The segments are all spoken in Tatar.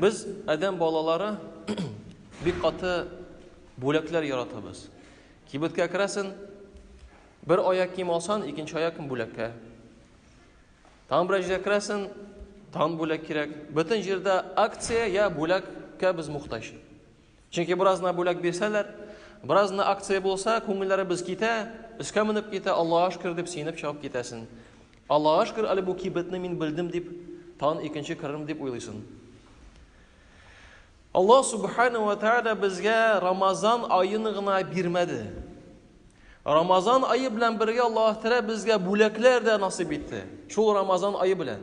Без адәм балалары бик каты бүләкләр яратабыз. Кибеткә керәсен, бер аяк кием алсан, икенче аякын бүләккә. Тагын берәр җиргә керәсен, тагын бүләк кирәк. Бөтен җирдә акция я бүләккә без мохтаҗ. Чөнки бераз гына бүләк бирсәләр, бераз гына акция булса, күңелләребез китә, өскә менеп китә, Аллаһ шөкер дип сөенеп чыгып китәсен. Аллаһ шөкер, әле бу кибетне мин белдем дип, тан икенче керрем дип уйлыйсын. Аллаһ субхана ва тааля безгә Рамазан аен гына бирмәде. Рамазан айы белән бергә Аллаһ Тәгалә безгә бүләкләр дә насыйп итте. Шул Рамазан айы белән.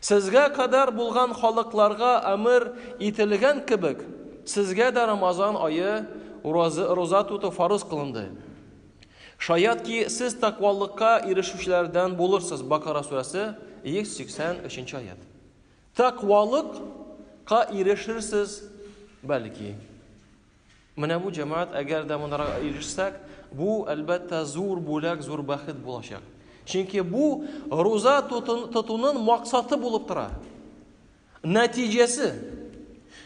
Сезгә кадәр булган халыкларга әмер ителгән кебек, сезгә дә Рамазан ае уразы-роза тоту фарыз кылынды. Шаят ки, сез тәкъвалыкка ирешүчеләрдән булырсыз. Бакара сүрәсе, 183 нче аят. Тәкъвалык ка ирешерсез, бәлки. Менә бу, җәмәгать, әгәр дә монарга ирешсәк, бу, әлбәттә, зур бүләк, зур бәхет булачак. Чөнки бу руза тотуның максаты булып тора. Нәтиҗәсе.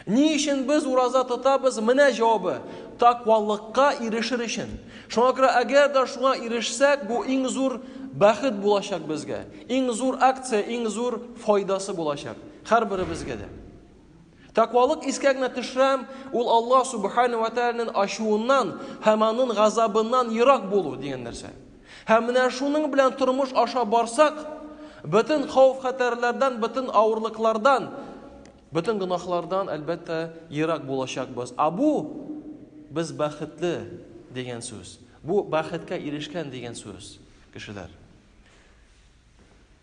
Ни өчен без ураза тотабыз? Менә җавабы. Таквалыкка ирешер өчен. Шуңа күрә, әгәр дә шуңа ирешсәк, бу иң зур бәхет булачак безгә. Иң зур акция, иң зур файдасы булачак. Һәрберебезгә дә. Тәкъвалык искә генә төшерәм, ул Аллаһ субхана ва тәгаләнең ачуыннан һәм аның газабыннан ерак булу дигән нәрсә. Һәм менә шуның белән тормыш аша барсак, бөтен хауф-хәтәрләрдән, бөтен авырлыклардан, бөтен гөнаһлардан әлбәттә ерак булачакбыз. А бу без бәхетле дигән сүз. Бу бәхеткә ирешкән дигән сүз, кешеләр.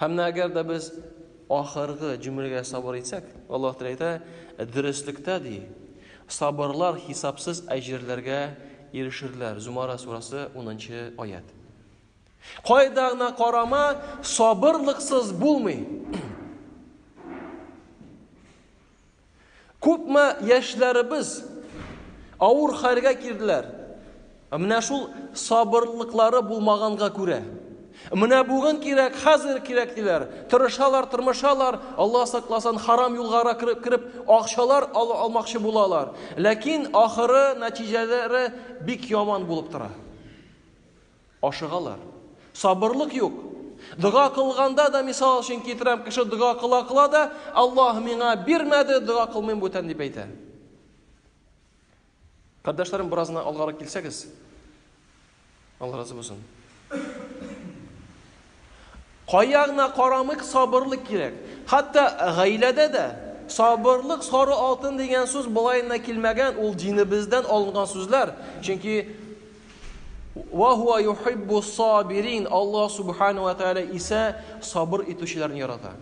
Һәм менә әгәр дә без ахыргы җөмләгә сабыр итсәк, Аллаһ Тәгалә әйтә, дөреслектә ди, сабырлар хисапсыз әҗерләргә ирешерләр. Зумара сурасы 10-нчы аят. Кайда гына карама, сабырлыксыз булмый. Күпме яшьләребез авыр хәлгә килделәр. Менә шул сабырлыклары булмаганга күрә. Менә бүген кирәк, хәзер кирәк диләр. Тырышалар, тырмышалар, Алла сакласын, харам юлгара кереп, кереп акчалар ал, алмакчы булалар. Ләкин ахыры, нәтиҗәләре бик яман булып тора. Ашыгалар. Сабырлык юк. Дога кылганда да, мисал өчен китерәм, кеше дога кыла-кыла да, Аллаһ миңа бирмәде, дога кылмыйм бүтән дип әйтә. Кардәшләрем, бераз гына алгарак килсәгез. Алла разы булсын. Кая гына карамыйк, сабырлык кирәк. Хәтта гаиләдә дә. Сабырлык, сары алтын дигән сүз болай гына килмәгән, ул динебездән алынган сүзләр. Чөнки Ва хуа юхиббу сабирин. Аллаһ Субхана ва Тәгалә исә сабыр итүчеләрне ярата.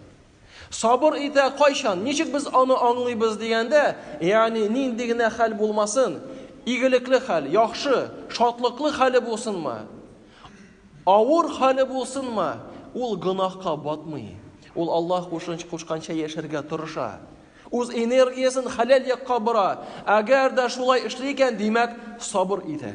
Сабыр итә кайчан? Ничек без аны аңлыйбыз дигәндә, ягъни нинди генә хәл булмасын, игелекле хәл, яхшы, шатлыклы хәле булсынмы, авыр хәле булсынмы, ул гөнаһка батмый. Ул Аллаһ кушынч кушканча яшәргә тырыша. Үз энергиясен хәләл якка бора. Әгәр дә шулай эшли икән, димәк, сабыр итә.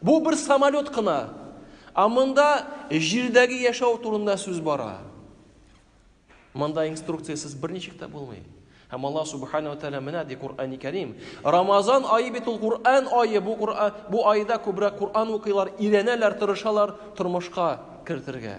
Бу бер самолет кына. Ә монда җирдәге яшәү турында сүз бара. Монда инструкциясез берничек тә булмый. Һәм Аллаһ Субхану ва Тәгалә менә ди Куръани Кәрим. Рамазан ае бит ул Куръан ае. Бу Куръан бу айда күбрәк Куръан укыйлар, өйрәнәләр, тырышалар тормышка кертергә.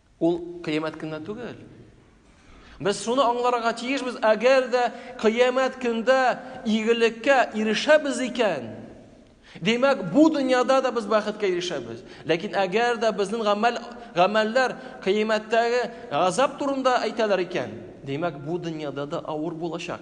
Ул кыямәт көненә түгел. Без шуны аңларга тиешбез, әгәр дә кыямәт көндә игелеккә ирешәбез икән, димәк, бу дөньяда да без бәхеткә ирешәбез. Ләкин әгәр дә безнең гамәл гамәлләр кыямәттәге газап турында әйтәләр икән, димәк, бу дөньяда да авыр булачак.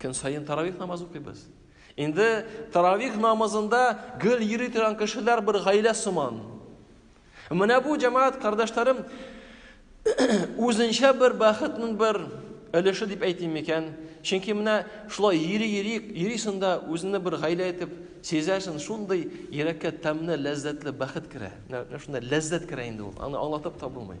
Көн саен таравих намаз укыйбыз. Инде таравих намазында гөл йөри торган кешеләр бер гаилә сыман. Менә бу җәмәгать кардәшләрем үзенчә бер бәхетнең бер өлеше дип әйтим микән? Чөнки менә шулай йөри йөри йөрисең дә үзеңне бер гаилә итеп сизәсең, шундый йөрәккә тәмле, ләззәтле бәхет керә. Менә шунда ләззәт керә инде ул. Аны аңлатып та булмый.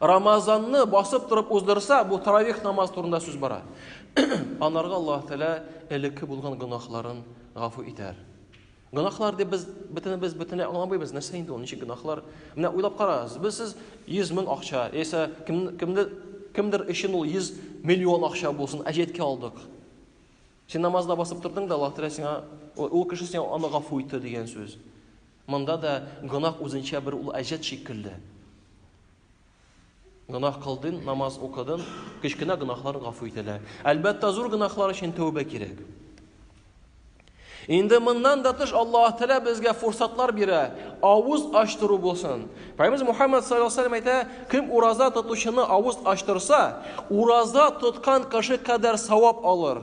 Рамазанны басып торып уздырса, бу таравих намаз турында сүз бара. Анарга Аллаһ Тәгалә элекке булган гөнаһларын гафу итәр. Гөнаһлар дип без бөтен без бөтен аңламыйбыз, нәрсә инде ул, ничек гөнаһлар? Менә уйлап карагыз, без сез 100 мең акча, яисә кем кемдер кемдер өчен ул 100 миллион акча булсын, әҗәткә алдык. Син намазда басып тордың да, Аллаһ Тәгалә сиңа ул кеше сиңа аны гафу итте дигән сүз. Монда да гөнаһ үзенчә бер ул әҗәт шикелле. Гөнаһ кылдың, намаз укыдың, кечкенә гөнаһлар гафу ителә. Әлбәттә, зур гөнаһлар өчен тәүбә кирәк. Инде моннан да тыш Аллаһ Тәгалә безгә фурсатлар бирә. Авыз ачтыру булсын. Пайгамбарыбыз Мухаммад саллаллаху алейһи ва әйтә, кем ураза тотучыны авыз ачтырса, ураза тоткан кеше кадәр савап алыр.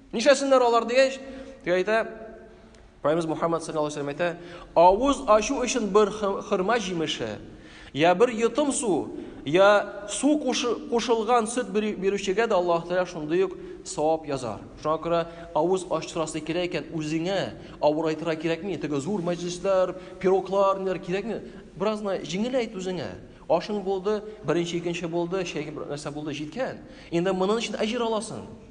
Нишәсеннәр алар дигәч, дип әйтә, Пайгамбарыбыз Мухаммад саллаллаху алейһи ва әйтә, авыз ачу өчен бер хырма җимеше, я бер йотым су, я су кушылган сөт бирүчегә дә Аллаһ Тәгалә шундый ук савап язар. Шуңа күрә авыз ачтырасы кирәк икән, үзеңә авырайтырга кирәкми. Теге зур мәҗлесләр, пироглар, ниләр кирәкми. Бераз гына җиңеләйт үзеңә. Ашың булды, беренче, икенче булды, чәй нәрсә булды, җиткән. Инде монын өчен әҗер аласың.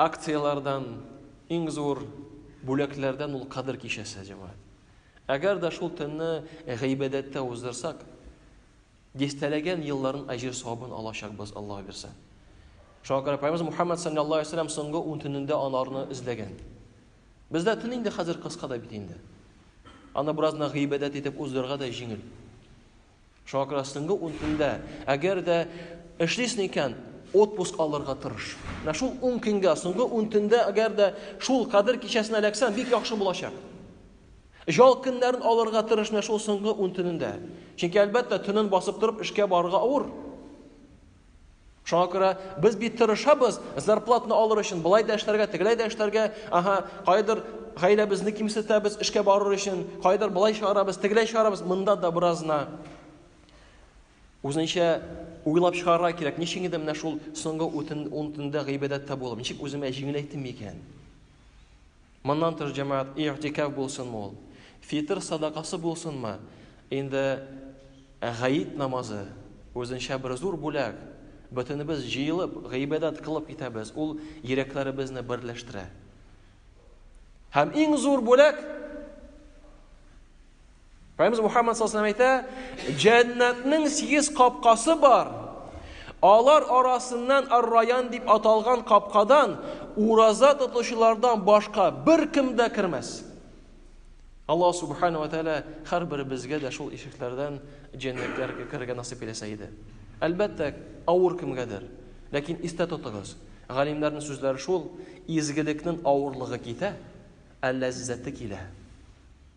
акцияләрдән, иң зур бүләкләрдән ул Кадер кичәсе, җәмәгать. Әгәр дә шул төнне гыйбадәттә уздырсак, дистәләгән елларын әҗер савабын алачакбыз, Аллаһ бирсә. Шуңа күрә Пәйгамбер Мухаммад саллаллаһу алейһи вәсәлләм соңгы ун төнендә анарны эзләгән. Бездә төн инде хәзер кыска да бит инде. Аны беразна гыйбадәт итеп уздырырга да җиңел. Шуңа күрә соңгы ун көндә, әгәр дә эшлисең икән, отпуск алырга тырыш. Менә шул ун көнгә, соңгы ун төндә, әгәр дә шул кадер кичәсенә эләксәң, бик яхшы булачак. Жал көннәрен алырга тырыш менә шул соңгы ун төнендә. Чөнки әлбәттә, төнен басып торып эшкә барырга авыр. Шуңа күрә без бит тырышабыз, зарплатны алыр өчен болай да эшләргә, тегеләй дә эшләргә, ага, кайдыр гаиләбезне кимсетәбез эшкә барыр өчен, кайдыр болай чыгарабыз, тегеләй чыгарабыз, монда да беразна үзенчә уйлап чыгарга кирәк. Ничек инде менә шул соңгы ун төндә гыйбадәттә булып, ничек үземә җиңеләйтим микән? Моннан тыш, җәмәгать, и'тикаф булсынмы ул, фитыр садакасы булсынмы, инде гает намазы, үзенчә бер зур бүләк, бөтенебез җыелып, гыйбадәт кылып китәбез, ул йөрәкләребезне берләштерә. Һәм иң зур бүләк, Пәйгамбәрбез Мухаммад саллаллаху алейһи әйтә, "Җәннәтнең сигез капкасы бар. Алар арасыннан Ар-Раян дип аталган капкадан ураза тотучылардан башка беркем дә кермәс." Аллаһ субханаһу ва тааля һәрберебезгә дә шул ишекләрдән җәннәткә керергә насыйп итсә иде. Әлбәттә, авыр кемгәдер. Ләкин истә тотыгыз, галимнәрнең сүзләре шул, изгелекнең авырлыгы китә, ә ләззәте килә.